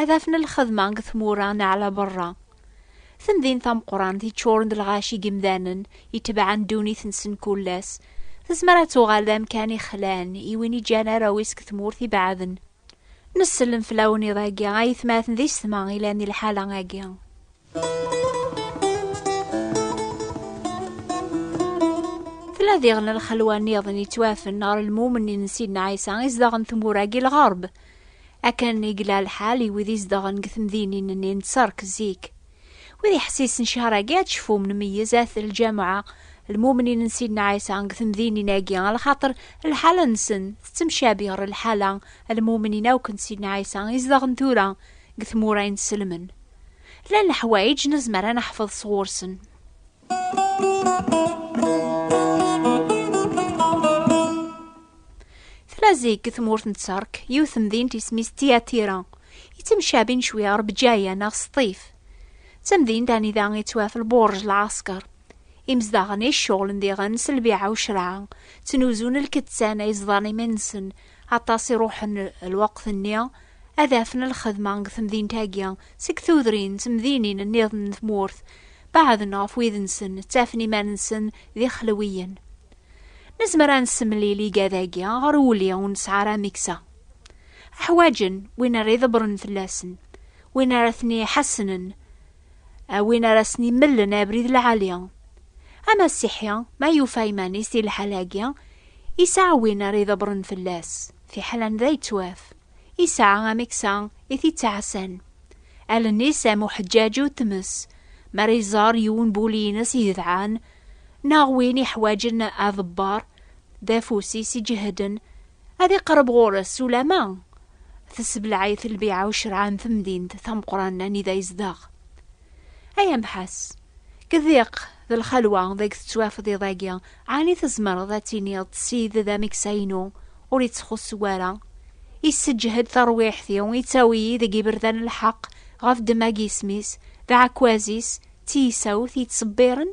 ad afen lxedma deg tmura neɣ la berra. Temdint tameqqrant yeččuren d lɣaci n yimdanen itebɛen ddunit-nsen kul ass, tezmer ad tuɣal d amkan ixlan i win iǧǧan arraw-is deg tmurt ibeɛden. Nessellem fell-awen iḍ-agi, a yetmaten d isetma, ilan di lḥala-agi. Tla diɣen lxelwa niḍen yettwafen ɣer lmumen n Sidna Ɛisa izdaɣen tmura-agi lɣerb. Akken i yella lḥal i wid izdaɣen deg temdinin-nni n Tserk zik. Wid iḥessisen cehṛ-agi ad cfum nmeyyez at lǧameɛ lmumnin n Sidna Ɛisa deg temdinin-agi lxaṭer lḥala-nsen tettemcabi ɣer lḥala lmumnin akk n Sidna Ɛisa izdaɣen tura deg tmura inselmen. Llan leḥwayeǧ nezmer ad neḥfeḍ sɣur-sen. Tella zik deg tmurt n Tterk yiwet temdint isem-is Tiyatira, yettemcabin cwi ɣer Bǧaya neɣ Sṭif. D tamdint anida yettwaf lbuṛj lɛasker. Imezdaɣen i cceɣlen diɣen s lbiɛa u ccreɛ, ttnuzun lkettan ay ẓḍan iman-nsen, aṭas i ruḥen lweqt-nni ad afen lxedma deg temdint-agi seg tudrin d temdinin nniḍen n tmurt, beɛden ɣef wid-nsen, ttafen iman-nsen d ixelwiyen. Nezmer ad nessemlil igad-agi ɣer wuli ur nesɛi ara ameksa. Ḥwaǧen win ara iḍebbren fell-asen, win ara ten-iḥassnen, a win ara sen-imellen abrid lɛali. Amasiḥi ma yufa iman-is di lḥal-agi, yesɛa win ara iḍebbren fell-as. Fiḥel anda yettwaf, yesɛa amiksa i t-ittɛassan. Allen-is am uḥeǧǧaǧu n tmes, mi ara iẓer yiwen n wul-ines igedɛan, neɣ win iḥwaǧen aḍebber, d afus-is iǧehden, ad iqerreb ɣur-s ulamma tessebleɛ-it lbiɛa ucreɛ n temdint tameqqrant anida yezdeɣ. Ay amḥas, kdiq d lxalwa deg tettwafeḍ iḍ-agi, ɛni tzemreḍ ad tiniḍ Sid d ameksa-inu ur ittxuṣṣ wara, isseǧhed tarwiḥt-iw, yettawi-yi deg iberdan n lḥeqq ɣef ddemma n yisem-is d aɛekkaz-is d tiyisawt yettṣebbiren?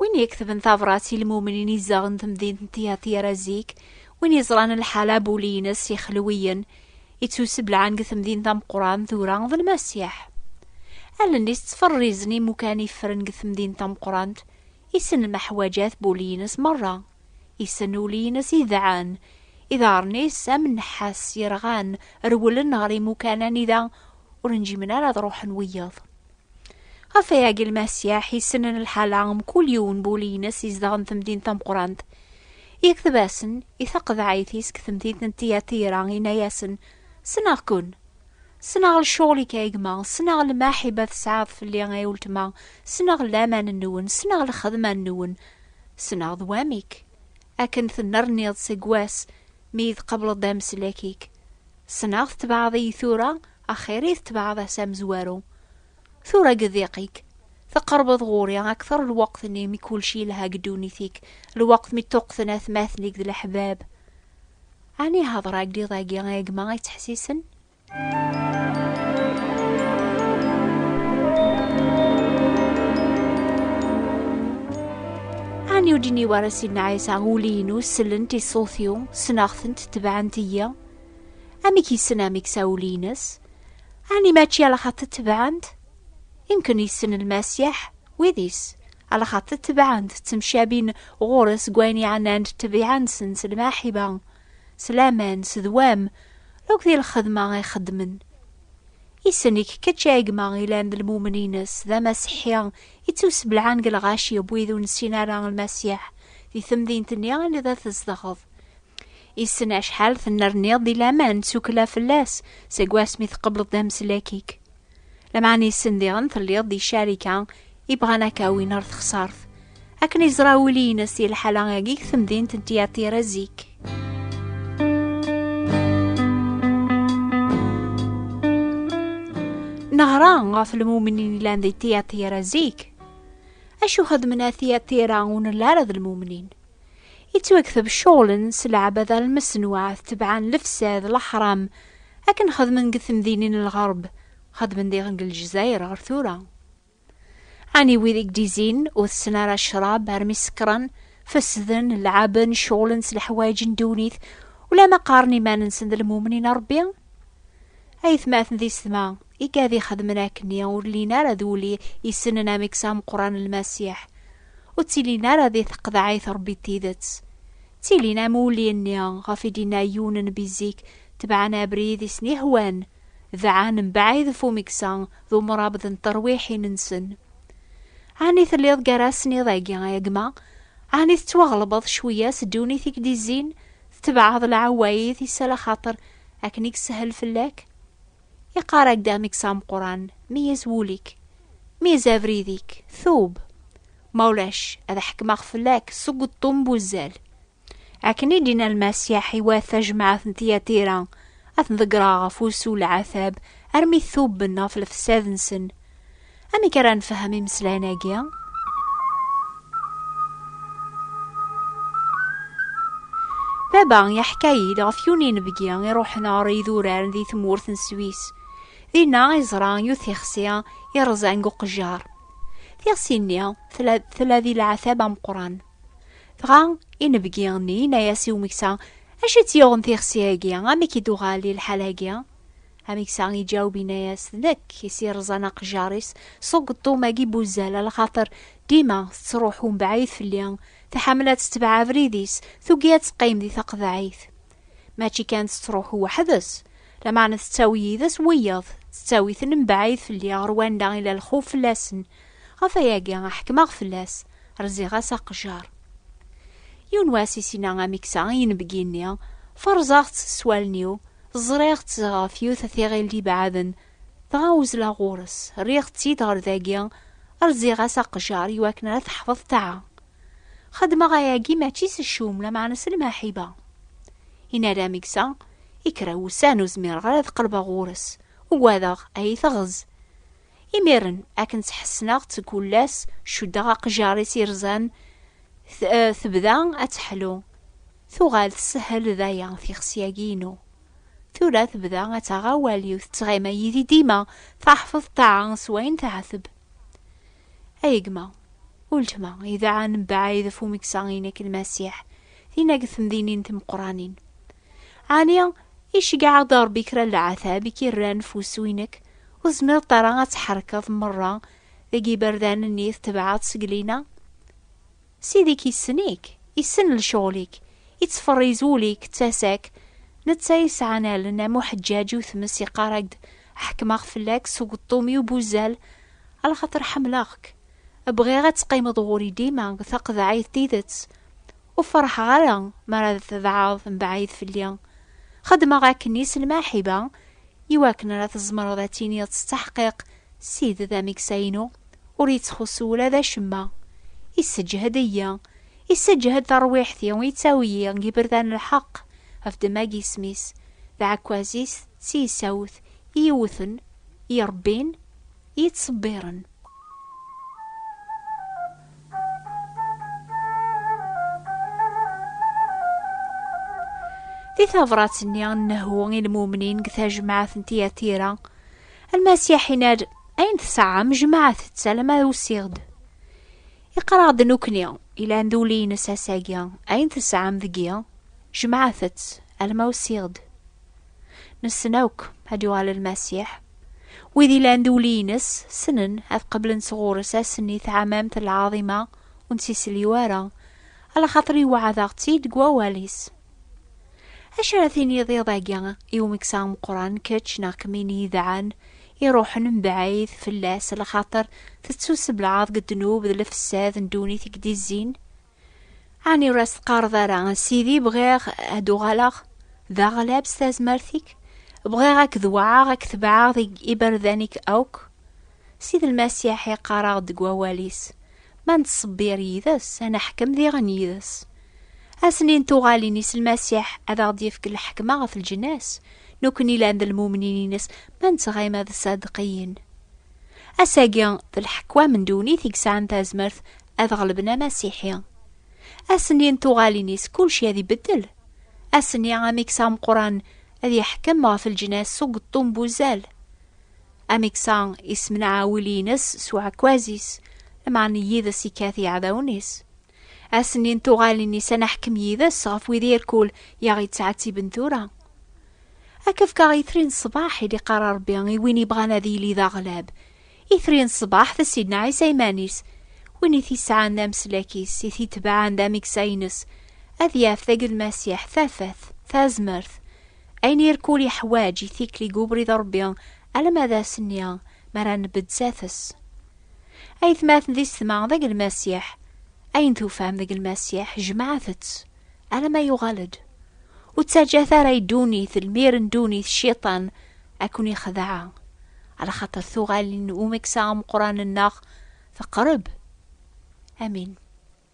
Win yeketben tabrat i lmumnin izzaɣen temdint n Tihatira zik, win yeẓran lḥala bu ul-ines yexelwiyen, ittuseblaɛen deg temdint tameqqran tura d Lmasiḥ. Allen-is ttferrizen imukan iffren deg temdint tameqqrant, isen lmeḥwaǧat bu ul-ines merra, isen ul-ines idɛan, iḍarren-is am nnḥas yerɣan rewlen ɣer imukan anida ur njimen ara ad ruḥen wiyaḍ. Ɣef wayagi lmasiyaḥ yessnen lḥala am kul yiwen bu ul-ines izedɣen temdint tameqqrant. Yekteb-asen i taqeḍɛit-is deg temdint n Tiyatira, yenna-yasen, Ssneɣ-ken! Ssneɣ lecɣal-ik ay gma, ssneɣ lmaḥiba tesɛiḍ fell-i ay uletma, ssneɣ laman-nwen, ssneɣ lxedma-nwen, ssneɣ d wamek akken tennerniḍ seg wass mi iyi-tqableḍ d ameslak-ik. Ssneɣ tetbeɛḍ-iyi tura, axir i tetbeɛḍ ass amezwaru. Tura deg diq-ik, teqrebeḍ ɣur-i akteṛ lweqt-nni mi kulci yelha deg ddunit-ik, lweqt mi ṭṭuqten atmaten-ik d leḥbab. Ɛni hdeṛ-ak-d iḍ-agi a gma yettḥessisen? Ɛni ur d-yenni wara Sidna Ɛisa, Ul-inu sellent i ṣṣut-iw, ssneɣ-tent, tebɛent-iyi? Amek yessen amek sawul-ines? Ani mačči ala xaṭ tebɛent? Imken yessen lmasiḥ wid-is, ala xaṭ tebɛent ttemcabin ɣur-s seg wayen yeɛnan-d ṭṭbiɛa-nsen s lmaḥiba, s laman, s dwam, akk di lxedma ay xeddmen. Issen-ik kečč a gma ilan d lmumen-ines, d amaseḥi, ittusbelɛan deg lɣaci n wid ur nessin ara lmasiḥ di temdint-nni anida tzedɣeḍ. Issen acḥal tennerniḍ di laman ttukla fell-as seg wasmi tqebleḍ d ameslak-ik. Lameɛna issen diɣen telliḍ di carika i bɣan ad k-awin ɣer texsart. Akken iẓra wul-ines di lḥala-agi deg temdint n Tyaṭira zik. Neɣra ɣef lmumnin yellan di Tyaṭira zik. Acu xedmen a Tyaṭira ur nella ara d lmumnin? Ittwakteb ccɣel-n s leɛbada lmesnuɛt tebɛen lefsad, leḥram, akken xedmen deg temdinin n lɣerb, xedmen diɣen deg Lezzayer ɣer tura. Ɛni wid i gdizin, ur tessen ara ccrab armi sekkren, fesden, leɛben, ccɣlen s leḥwayeǧ n ddunit, ulamma qqaren iman-nsen d lmumnin n Ṛebbi? Ayetmaten d isetma, igad ixedmen akkenni ur llin ara d ul isnen ameksa ameqqran n Lmasiḥ. ur ttilin ara di teqḍeɛ-it Ṛebbi d tidet. Ttilin am wulli-nni ɣef i d-inna yiwen n bi zik, tebɛen abrid i sen-ihwan, dɛan mebɛid ɣef umeksa d umṛabḍ n terwiḥin-nsen. Ɛni telliḍ gar-asen iḍ-agi a gma? Ɛni tettwaɣelbeḍ cwiya s ddunit i k-d-izzin, tetebɛeḍ lɛewayit-is ala xaṭer akken i yeshel fell-ak? Iqarag-d amek s ameqran, meyyez wul-ik, meyyez abrid-ik, tub. Ma ulac, ad ḥekmeɣ fell-ak seg uṭṭun n wuzzal. Akken i d-yenna Lmasiḥ, iwat tajmaɛt n Tiyatira ad ten-ḍeggreɣ ɣef wusu n lɛatab, armi tuben ɣef lefsad-nsen. Amek ara nfehhem imeslayen-agi? Baba yeḥka-yi-d ɣef yiwen inebgi iruḥen ɣer yidurar di tmurt n Swis. Dinna i yeẓra yiwet tixsi iṛẓan deg uqejjar. Tixsi-nni tella, tella di leɛtab ameqqran. Dɣa inebgi-nni yenna-as i umeksa, Acu i tt-yuɣen tixsi-agi? Amek i d-tuɣal i lḥal-agi? Ameksa iǧaweb inna-yas, d nekk i s-iṛẓan aqejjar-is s ugeṭṭum agi n wuzzal, ala xaṭer dima tettṛuḥu mebɛid fell-i, tḥemmel ad tetbeɛ abrid-is, tugi ad teqqim di taqeḍɛit. Mačči kan tettṛuḥu weḥd-s, lameɛna tettawi yid-s wiyaḍ, tettawi-ten mebɛid fell-i ɣer wanda i la lxuf fell-asen. Ɣef wayagi i ḥekmeɣ fell-as, rziɣ-as aqejjar. Yiwen wass i s-inna Ameksa i yinebgi-nni, Ferẓeɣ-tt s wallen-iw, Ẓriɣ-tt ɣef yiwet tiɣilt ibeɛden, dɣa uzleɣ ɣur-s, rriɣ-tt-id ɣer dagi, rziɣ-as aqjar iwakken ara teḥfeḍ ṭaɛa. Xedmeɣ ayagi mačči s ccum, lameɛna s lmaḥiba. I nara ameksa, i kra wussan ur zmireɣ ara ad qelbeɣ ɣur-s, ugadeɣ ad yi-teɣz. Imiren, akken tt-ḥessneɣ-tt deg ullas, cuddeɣ aqjar-is irzan, tebda ad teḥlu. Tuɣal tessehel daya tixsi-agi-inu. Tura tebda ad taɣ awal yiwet ttɣima yid-i dima, taḥfeḍ ṭṭaɛa s wayen teɛteb. Ay gma, uletma, idɛa nebɛayd ɣef umeksa-inek n Masiḥ, dinna deg temdinin timeqqranin. Ɛni iceggeɛ-aɣ-d Ṛebbi kra n leɛtab i k-irran ɣef wussu-inek, ur tezmireḍ ara ad tḥerkeḍ meṛṛa deg yiberdan-nni tetbeɛeḍ seg lina? Ssid-ik issen-ik, issen lecɣel-ik, ittferriz ul-ik d tasa-k, netta yesɛan allen am uḥeǧǧaǧ u tmes yeqqar-ak-d ḥekmeɣ fell-ak s ugeṭṭum-iw n uzzal axaṭer ḥemmleɣ-k, bɣiɣ ad teqqimeḍ ɣur-i dima deg taqeḍɛit d tidet, ur ferḥeɣ ara mi ara d tebɛeḍ mebɛid fell-i, xeddmeɣ akkenni s lmaḥiba iwakken ara tzemreḍ ad tiniḍ s ttaḥqiq Ssid d ameksa-inu. Ur yettxuṣṣu ula d acemma. Isseǧhed-iyi, isseǧhed tarwiḥt-iw, yettawi-yi deg yiberdan n lḥeqq, ɣef ddemma n yisem-is, d aɛekkaz-is d tiyessawt i iyi-iwwten, i iyi-irebbin, i iyi-ittṣebbiren. Di tabṛat-nni n Nehu i lmumnin deg tajmaɛt n Tiyatira, Almasiḥ inar ayen tesɛa mejmaɛet-tt alama usiɣ-d. Iqraɣ-d nukni ilan d uli-ines asagi ayen tesɛam deg-i jmaɛet-tt alama usiɣ-d. Nessen akk ad yuɣal Almasiḥ. Wid ilan d uli-ines ssnen ad qeblen sɣur-s ass-nni taɛmamt lɛaḍima ur nettisliw ara, ala xaṭer iweɛɛed-aɣ-tt-id deg wawal-is. Acu ara tiniḍ iḍ-agi i umeksa ameqqran kečč neɣ kemmin yidɛan iruḥen mebɛid fell-as lxaṭer tettuseblaɛeḍ deg ddnub d lefsad n ddunit i k-d-izzin? Ɛni ur as-teqqareḍ ara a Sidi bɣiɣ ad d-uɣaleɣ d aɣlab s tazmert-ik, bɣiɣ ad k-dewɛeɣ, ad k-tebɛeɣ deg iberdan-ik akk? Sidi Lmasiḥ iqqar-aɣ-d deg wawal-is, Ma nettṣebbir yid-s, ad neḥkem diɣen yid-s. Asni n tuɣalin-is Lmasiḥ ad aɣ-d-yefk lḥekma ɣef leǧnas, nekkni lan d lmumnin-ines ma nettɣima d ṣṣadeqiyin. Ass-agi, d lḥekwam n ddunit i yesɛan tazmert ad ɣelben amasiḥi. Asni n tuɣalin-is kulci ad ibeddel. Asni amiks ameqran ad yeḥkem ɣef leǧnas s ugeṭṭum n wuzzal. Amiks-a yessemneɛ awil-ines s uɛekkaz-is, lmeɛna yid-s ikkat iɛdawen-is. Asenni n tuɣalin-is ad naḥkem yid-s ɣef wid irkul i aɣ-yettɛettiben tura. Ad k-fkeɣ itri n ṣṣbaḥ i d-iqqar Rebbi i win ibɣan ad yili d aɣlab. Itri n ṣṣbaḥ d Sidna Ɛisa iman-is. Win i t-isɛan d ameslak-is, i t-itebɛen d ameksa-ines, ad yaf deg Lmasiḥ tafat, tazmert. Ayen irkul iḥwaǧ i tikli deg ubrid n Rebbi alamma d asenni mi ara nbedd sdat-s. Aytmaten di setma deg lmasiḥ, ayen tufam deg lmasiḥ jemɛet-tt, alamma yuɣal-d. Ur ttaǧǧat ara i ddunit, lmir n ddunit, cciṭan, ad ken-ixdeɛ. Ala xaṭer tuɣalin n umeksa ameqqran-nneɣ teqreb. Amin.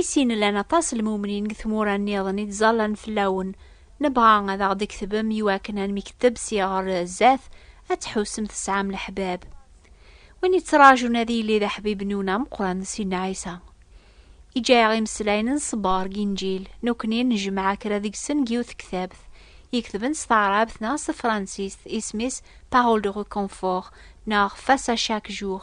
I sin llan aṭas n lmumnin deg tmura nniḍen i ttẓallan fell-awen. Nebɣa ad aɣ-d-tketbem iwakken ad nmekteb si ɣer zdat, ad tḥusem tesɛam leḥbab. Win yettraǧun ad yili d aḥbib-nwen ameqqran d Sidna Ɛisa. Iǧǧa-aɣ imeslayen n ṣṣber deg Inǧil, nekkni nejmeɛ kra deg-sen deg yiwet tektabt, yeketben s taɛrabt neɣ s tefransist, isem-is Parole de reconfort neɣ Face à chaque jour.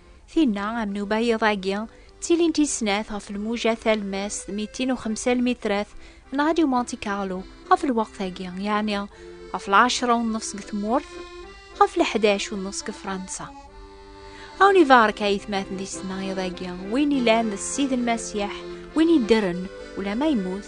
Tinna, am nubayeḍ-agi, ttilint i snat ɣef lmuja talmast mitin u xemsa lmitrat n Radio Monte Carlo ɣef lweqt-agi, yeɛni ɣef lɛecra u nnefs deg tmurt, ɣef leḥdac u nnefs deg Fransa. Awen ibarek ayetmaten di tesnayeḍ-agi, win ilan d Ssid Lmasiḥ, win iddren, ulama yemmut,